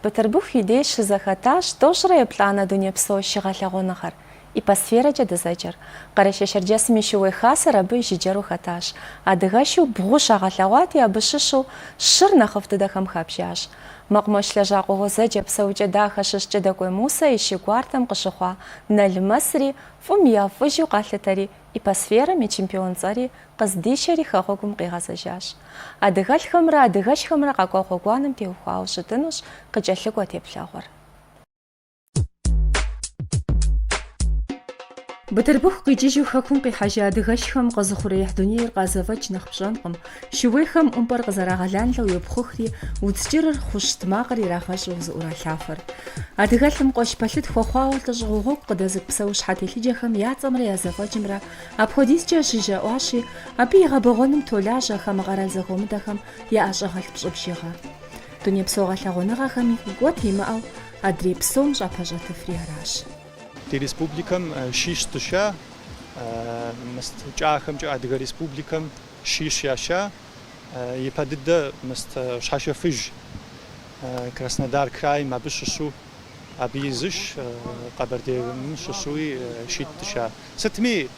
Бытырбыху и деж щызэхэтащ тӏощӏрэ еплӏанэ дунейпсо шы гъэлъэгъуэныгъэр, Иппосферэкӏэ дызэджэр. Къэрэшей-Шэрджэсым и шууей хасэр абы жыджэру хэтащ. Адыгэшу бгъу щагъэлъэгъуати, абы щыщу щыр нэхъыфӏ дыдэхэм хабжащ. Мэкъумэш лэжьакӏуэ гъуэзэджэ Псэукӏэ-Дахэ щыщ Кӏыдэкӏуей Мусэ и шы гуартэм къыщыхъуа Налмэсри фӏым ефӏыжу къалъытэри, Иппосферэм и чемпион цӏэри къыздишэри хэгъуэгум къигъэзэжащ. Адыгэлӏхэмрэ адыгэшхэмрэ къэкӏуа гъуэгуанэм теухуауэ щытынущ къыкӏэлъыкӏуэ теплъэгъуэр. Бытырбыху къикӏыжу хэкум къихьэжа адыгэшхэм къэзыухъуреихь дунейр къазэфӏэкӏ нэхъ пщӏэнкъым. Шууейхэм ӏумпӏэр къызэрагъэланлэу йопхъухри, удз кӏырыр хъущт макъыр ирагъэщӏу зыӏуралъафэр. Адыгэлӏым къуэш пэлъыт хуэхъуауэ лӏыщӏыгъуэ гъуэгу къыдэзыкӏу псэущхьэ телъыджэхэм я цӏэмрэ я зэфӏэкӏымрэ апхуэдизкӏэ жыжьэ ӏуащи, абы и гъэбэгъуэным толажьэ хамэ къэрал зэхуэмыдэхэм я ӏэщӏагъэлӏ пщӏы бжыгъэ. Дунейпсо гъэлъэгъуэныгъэхэми икӏуэт имыӏэу адрей псом щӏапэщӏэтыфри аращ. Ди республикэм шищ дыша, мыст кӏахэмкӏэ Адыгэ Республикэм Шищ яша ипэ дыдэ мыст Щхьэшэфыж, Краснодар крайм абы щыщу, абы и зы шы Къэбэрдейм щыщуи шитӏ дыша. Сытми,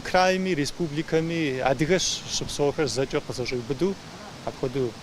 крайми, республикэми адыгэ щыпсэухэр зэкӏэ къызэщӏиубыду апхуэдэу.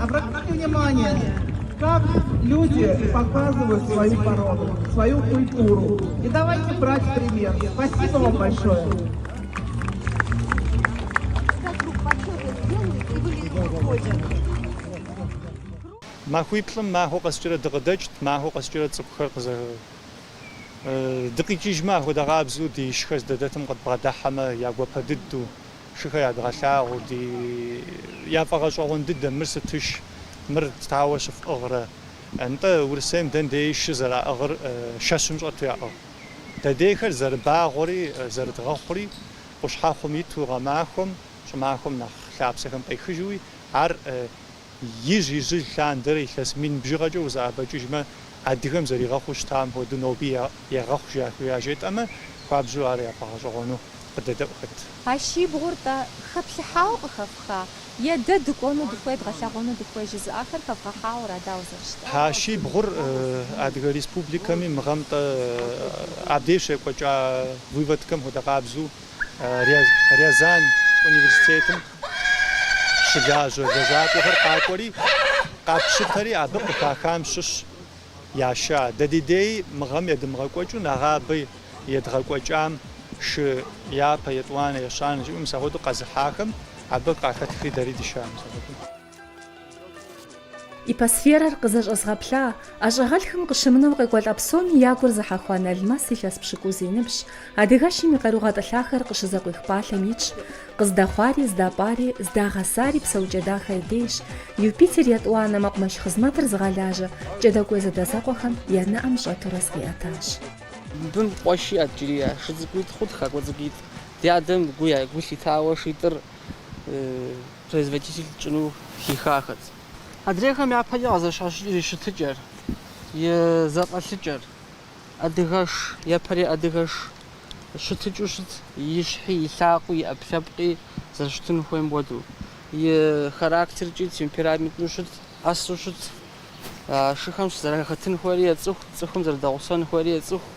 Обратите внимание, как люди показывают свою породу, свою культуру. И давайте брать пример. Спасибо вам большое. Махуиплӏым махуэ къэскӏэрэ дыкъыдэкӏт, махуэ къэскӏэрэ цӏыхухэр къызэ дыкъикӏыжмэ, ахуэдэ къабзэу ди шыхэр здадэтым къыдбгъэдыхьэмэ, я гуапэ дыдэу, Шыхэр ядгъэлъагъу ди яфӏэгъэщӏэгъуэн дыдэм, мыр сытыш, мыр тауэ щыфӏыгърэ. Нтӏэ, Урысейм дэндеи шы зэраӏыгъыр шэщым щӏэту яӏыгъ. Дэдейхэр зэрыбагъуэри зэрыдгъэхъури, къущхьэхъум иту гъэмахуэм, щӏымахуэм нэхъ лъапсэхэм къехыжуи, ар Ижь ижьыж лъандэрэ илъэс мин бжыгъэкӏэ узэӏэбэкӏыжмэ, адыгэм зэригъэхъуу щытам хуэдэу ноби ягъэхъу яжетӏэмэ, хуабжьу ар яфӏэгъэщӏэгъуэну къыдэдаӏуэхэт. А шибгъур-тӏэ хэплъыхьауэ къыхэфха, е дэ дыкӏуэну дыхуей, дгъэлъэгъуэну дыхуей жызыӏахэр хэвгъэхьауэра, дауэ зэрыщытар? А шибгъур Адыгэ Республикэми мы гъэм-тӏэ абдеж щекӏуэкӏа выводкэм хуэдэ къабзэу Рязань университетым, Щылажьэ лэжьакӏуэхэр къакӏуэри, къапщытэри абы къыхахам щыщ яша. Дэ ди дей мы гъэм едымыгъэкӏуэкӏыу нэгъабэ едгъэкӏуэкӏам шы япэ, етӏуанэ, ещанэ жиӏэу мис ахуэдэу къэзыхьахэм абы къахэтхри дэри дыша мис ахуэдэу. Ипосферэр къызэщӏэзгъэплъа ӏэщӏагъэлӏхэм къыщымынэу къекӏуэлӏа псоми я гур зыхьэхуа Налмэс илъэс пщыкӏуз и ныбжьщ, адыгэшым и къару гъэтӏылъахэр къыщызэкъуих пӏалъэм итщ. Къыздэхъуари, здапӏари, здагъэсари Псэукӏэ-Дахэ и дейщ. Юпитер етӏуанэ мэкъумэш хъызмэтыр зыгъэлажьэ Кӏэдэкӏуей зэадэзэкъуэхэм я нэӏэм щӏэтурэ зыкъиӏэтащ. Мыбым къуэш иӏэт иджыри, шы цӏыкӏуитӏ хъурт, хакӏуэ цӏыкӏуитӏ. Ди адэм гу лъитауэ шитӏыр. Производитель тщӏыну хихахэт. Адрейхэм япэкӏэ къызэщхьэщыкӏыр и щытыкӏэр, и зэфӏэлъыкӏэр. Адыгэш, япэрей адыгэш щытыкӏыу щыт, и щхьи, и лъакъуи, и ӏэпкълъэпкъи зэрыщытын хуейм хуэдэу. И характеркӏи, темпераменту щыт, ӏэсу щыт. А шыхэм щызэрахэтын хуейри ецӏыху, цӏыхум зэрыдэгъусэн хуейри ецӏыху.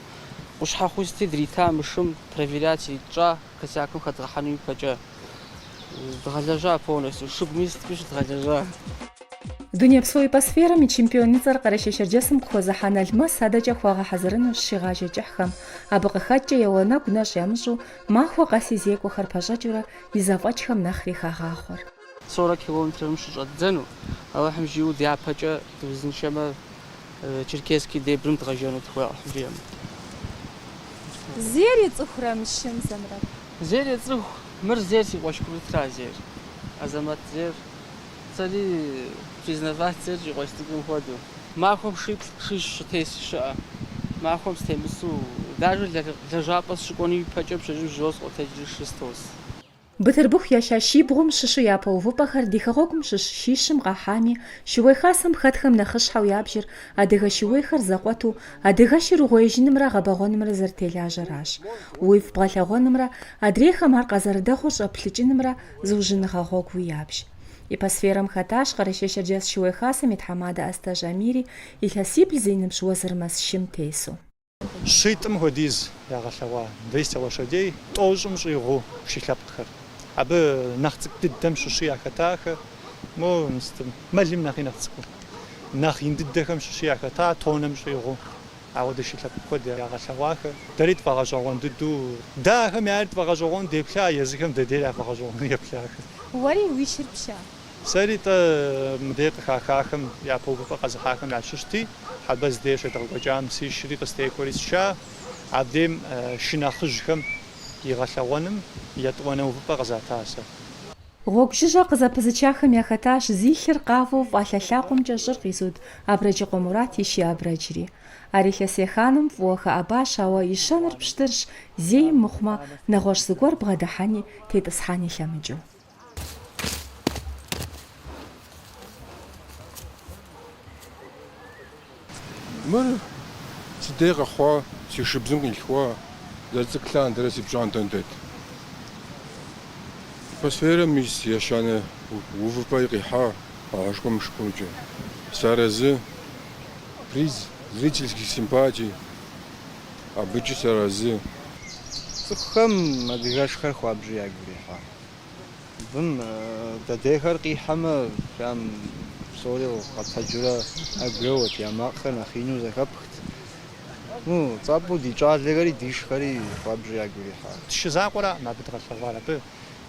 Къущхьэхъуи сыти дрита мы шым проверять иритщӏа. Косякым хэдгъэхьэну ипэкӏэ дгъэлэжьа полностью, шыгуми сыти щыдгъэлэжьа. Дунейпсо ипосферэм и чемпионыцӏэр Къэрэшей-Шэрджэсым къыхуэзыхьа Налмэс адэкӏэ хуагъэхьэзырынущ шыгъажэ кӏыхьхэм. Абы къыхэкӏкӏэ и уанэгу нэщӏ ямыщӏу, махуэ къэси зекӏуэхэр пэщӏэкӏыурэ и зэфӏэкӏхэм нэхъри хагъахъуэр. Сорок километрым щыщӏэддзэну, Алыхьым жиӏэу дяпэкӏэ дыузыншэмэ, Черкесский дебрым дгъэжэну дыхуей, Алыхь жиӏэм. Зейр ецӏыхурэ мы шым зэмрэр? Зейр ецӏыху, мыр зейр си къуэш курытра зейр, Азэмэт зейр, сэри признавать сещӏ и къуэш цӏыкӏум хуэдэу. Махуэм шиплӏ шищ сытес щыӏэ, махуэм стемысу, дажэ лэжьапӏэ сыщыкӏуэну ипэкӏэ пщэжьым жьыуэ сыкъотэджри шы стос. Бытырбыху яша шибгъум щыщу япэ увыпӏэхэр ди хэгъуэгум щыщ шищым къахьами, Шууей Хасэм хэтхэм нэхъыщхьэу ябжыр адыгэ шууейхэр зэкъуэту, адыгэшыр угъуеижынымрэ гъэбэгъуэнымрэ зэрытелажьэращ. Уифӏ бгъэлъэгъуэнымрэ адрейхэм ар къазэрыдэхъур щӏэплъыкӏынымрэ зыужьыныгъэ гъуэгуу ябж. Ипосферэм хэтащ Къэрэшей-Шэрджэс Шууей Хасэм и тхьэмадэ Астэжь Амири илъэсибл зи ныбжь Уэзырмэс шым тесу. Щитӏым хуэдиз ягъэлъэгъуа двести лошадей тӏощӏым щӏигъуу шы лъэпкъхэр. Абы нэхъ цӏыкӏу дыдэм щыщи яхэтахэ, мо мыстым, мэлым нэхъи нэхъ цӏыкӏуу. Нэхъ ин дыдэхэм щыщи яхэта тоннэм щӏигъуу. Ауэдэ шы лъэпкъ куэд ягъэлъэгъуахэ. Дэри тфӏэгъэщӏэгъуэн дыдэу, дэ ахэм яйри тфӏэгъэщӏэгъуэну деплъа, езыхэм дэ дейр яфӏэгъэщӏэгъуэну еплъахэ. Уэри уи шыр пща? Сэри тӏэ мыдей къыхахахэм япэ увыпӏэ къэзыхьахэм ящыщти, Хьэбэз дей щедгъэкӏуэкӏам си шри къыстехуэри сша. Абдейм шы нэхъыжьхэм игъэлъэгъуэным етӏуанэ увыпӏэ къызата сэ. Гъуэгу жыжьэ къызэпызычахэм яхэтащ зи лъыр къавэу фӏалъэ лъакъуэмкӏэ щӏыр къизуд Абрэджыкъуэ Мурат и шы Абрэджри. Ар илъэс еханэм фӏыуэ хэӏэбащ, ауэ и щэныр пщтырщ, зейм мыхъумэ, нэгъуэщӏ зыгуэр бгъэдыхьэни, тетӏысхьэни лъэмыкӏыу. Мыр сыдей къэхъуа, си шыбзым къилъхуа, зэрыцӏыкӏу лъандэрэ си пщӏантӏэм дэт. Ипосферэм ис ещанэ увыпӏэ къихьа къэгъэшкӏуэ мышкӏуркӏэ. Сыарэзы, приз зрительских симпатий, абыкӏи сыарэзы. Цӏыхухэм адыгэшхэр хуабжьу ягу ирихьа. Абым дыдейхэр къихьэмэ, прям псори къэтэджурэ ӏэгу еуэт, я макъхэр нэхъ ину зэхэпхт. Ну, цӏапӏэу ди кӏалэхэри ди шхэри хуабжьу ягу ирихьа. Ди шы закъуэраӏым абы дгъэлъэгъуар. Абы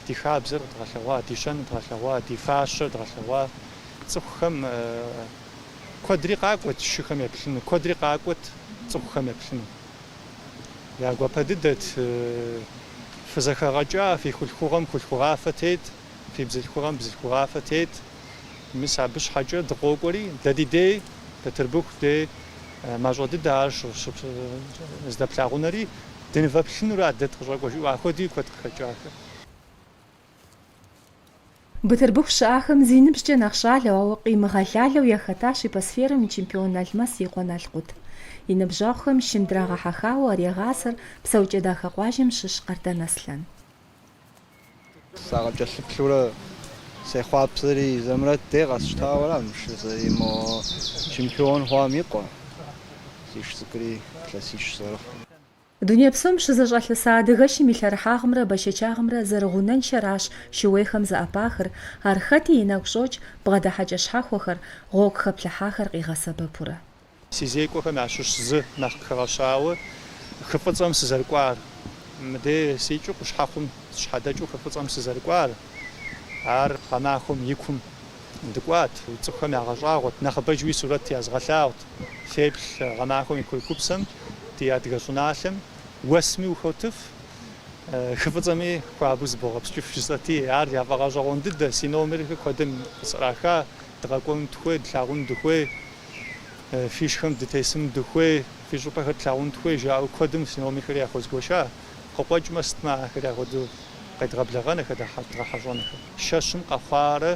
ди хабзэр дгъэлъэгъуа, ди щэныр дгъэлъэгъуа, ди фащэр дгъэлъэгъуа. Цӏыхухэм куэдри къакӏуэт шыхэм еплъыну, куэдри къакӏуэт цӏыхухэм еплъыну. Я гуапэ дыдэт фызэхэгъэкӏа, фи хулъхугъэм хулъхугъафэ тет, фи бзылъхугъэм бзылъхугъафэ тет. Мис абы щхьэкӏэ дыкъокӏуэри, дэ ди дей, Бэтырбыху дей мащӏэ дыдэ ар здэплъагъунэри, дынывэплъынура дэ дыкъыщӏэкӏуэ жаӏэу апхуэди куэд къыхэкӏахэ. Бытырбыху щыӏахэм зи ныбжькӏэ нэхъ щӏалэу, ауэ къимыгъэлалэу яхэтащ Ипосферэм и чемпион Налмэс и къуэ Налкъут. И ныбжьэгъухэм шым драгъэхьэхауэ ар егъасэр Псэукӏэ-Дахэ къуажэм щыщ Къардэн Аслъэн. Сакъыкӏэлъыплъурэ сехъуапсэри, Зэмрэт дей къэсщтауэра мы шыр, мо чемпион хъуам и къуэ. Си шы цӏыкӏури илъэсищ зэрыхъу. Дуней псом щызэщӏэлъыса адыгэшым и лъэрыхьагъымрэ бэшэчагъымрэ зэрыгъунэншэращ шууейхэм зэӏэпахыр, ар хэти и нэгу щӏокӏ, бгъэдыхьэкӏэ щхьэхуэхэр, гъуэгу хэплъыхьахэр къигъэсэбэпурэ. Си зекӏуэхэм ящыщ зы нэхъ къыхэгъэщауэ хы фӏыцӏэм сызэрыкӏуар. Мыдей сикӏыу къущхьэхъум сщхьэдэкӏыу хы фӏыцӏэм сызэрыкӏуар, ар гъэмахуэм и кум. Дыкӏуат, цӏыхухэм ягъэщӏагъуэт, нэхъыбэжуи сурэт язгъэлъагъут. Феплъ гъэмахуэм и курыкупсэм ди адыгэ щӏыналъэм уэсми ухотыф, хы фӏыцӏэми хуабэу зыбогъэпскӏыф жысӏэти, ар яфӏэгъэщӏэгъуэн дыдэ, си номерхэр куэдым къысӏраха, дыкъэкӏуэну дыхуей, длъагъуну дыхуей, фи шхэм дытесыну дыхуей, фи щӏыпӏэхэр тлъагъуну дыхуей, жаӏэу куэдым си номерхэри яхуэзгуэша. Къыкъуэкӏмэ, сытмэ ахэр яхуэдэу къедгъэблэгъэн ахэр дгъэхьэщӏэнхэр. Шэщым къэхъуарэ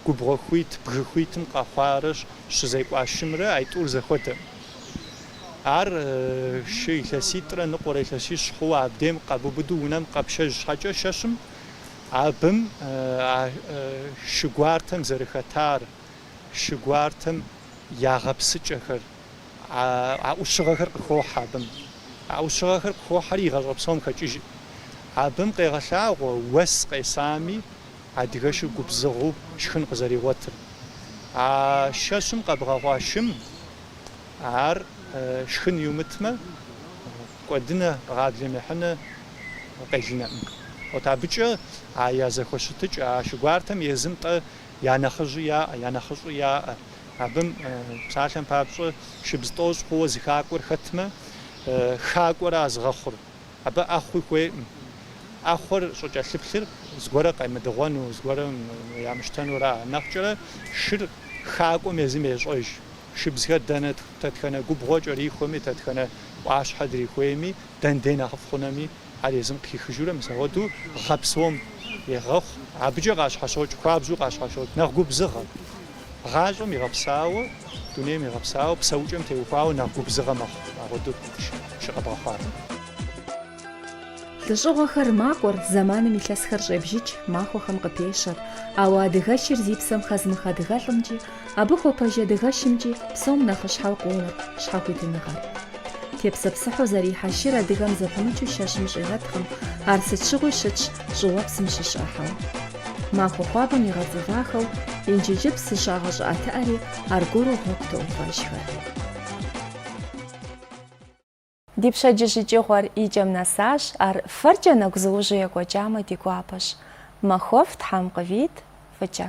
губгъуэ хуит, бгы хуитым къэхъуарэ щызекӏуа шымрэ аитӏур зэхуэдэкъым. Ар шы илъэситӏрэ ныкъуэрэ илъэсищ хъууэ абдейм къэбубыду унэм къэпшэж щхьэкӏэ шэщым абым а шы гуартэм зэрыхэтар, шы гуартэм я гъэпсыкӏэхэр, а ӏущыгъэхэр къыхохьэ абым. А ӏущыгъэхэр къыхохьэри игъащӏэ псом хэкӏыжкъым. Абым къегъэлъагъуэ уэс къесами, адыгэшыр губзыгъэу шхын къызэригъуэтыр. А шэщым къэбгъэхъуа шым ар шхын иумытмэ, кӏуэдынэ, гъаблэм ехьынэ къелынэкъым. Вот абыкӏэ а я зэхуэщытыкӏэ, а шы гуартэм езым-тӏэ я нэхъыжьи яӏэ, я нэхъыщӏи яӏэ. Абым, псалъэм папщӏэ, шыбз тӏощӏ хъууэ зы хакӏуэр хэтмэ, хакӏуэра зыгъэхъур. Абы ӏэхъуи хуейкъым. ӏэхъуэр щӏыкӏэлъыплъыр зыгуэрэ къемыдыгъуэну, зыгуэрэ ямыщтэнура. Нэхъкӏэрэ шыр хакӏуэм езым ещӏэж. Шыбзхэр дэнэ тэтхэнэ губгъуэ кӏэрихуэми, тэтхэнэ ӏуащхьэ дрихуейми, дэн дей нэхъыфӏ хъунэми, Ар езым къыхихыжурэ мис агъуэдэу гъэ псом егъэхъу, абыкӏэ къащхьэщокӏ, хуабжьу къащхьэщокӏ, нэхъ губзыгъэ. Гъащӏэм игъэпсауэ, дунейм игъэпсауэ, псэукӏэм теухуауэ нэхъ губзыгъэ мэхъу, агъуэдэу шы къэбгъэхъуар. Лӏыщӏыгъуэхэр макӏуэр, зэманым илъэсхэр щӏебжыкӏ, махуэхэм къыпещэр. Ауэ адыгэшыр зи псэм хэзымых адыгэлӏымкӏи, Абы хуэпэжь адыгэшымкӏи псом нэхъыщхьэу къоувыр щхьэхуитыныгъэр. Тепсэпсыхьу зэрихьэ шыр адыгэм зэпымычу шэщым щӏигъэткъым, ар сыт щыгъуи щытщ щӏыуэпсым щыщ ӏыхьэу. Махуэ хуабэм игъэцӏывахэу Инджыджыпс зыщагъэщӏыӏэтыӏэри аргуэру гъуэгу тоувэжхэр. Ди пщэдджыжь икӏыгъуэр и кӏэм нэсащ, ар фэркӏэ нэгузыужьу екӏуэкӏамэ ди гуапэщ. Махуэфӏ Тхьэм къывит фӏыкӏэ.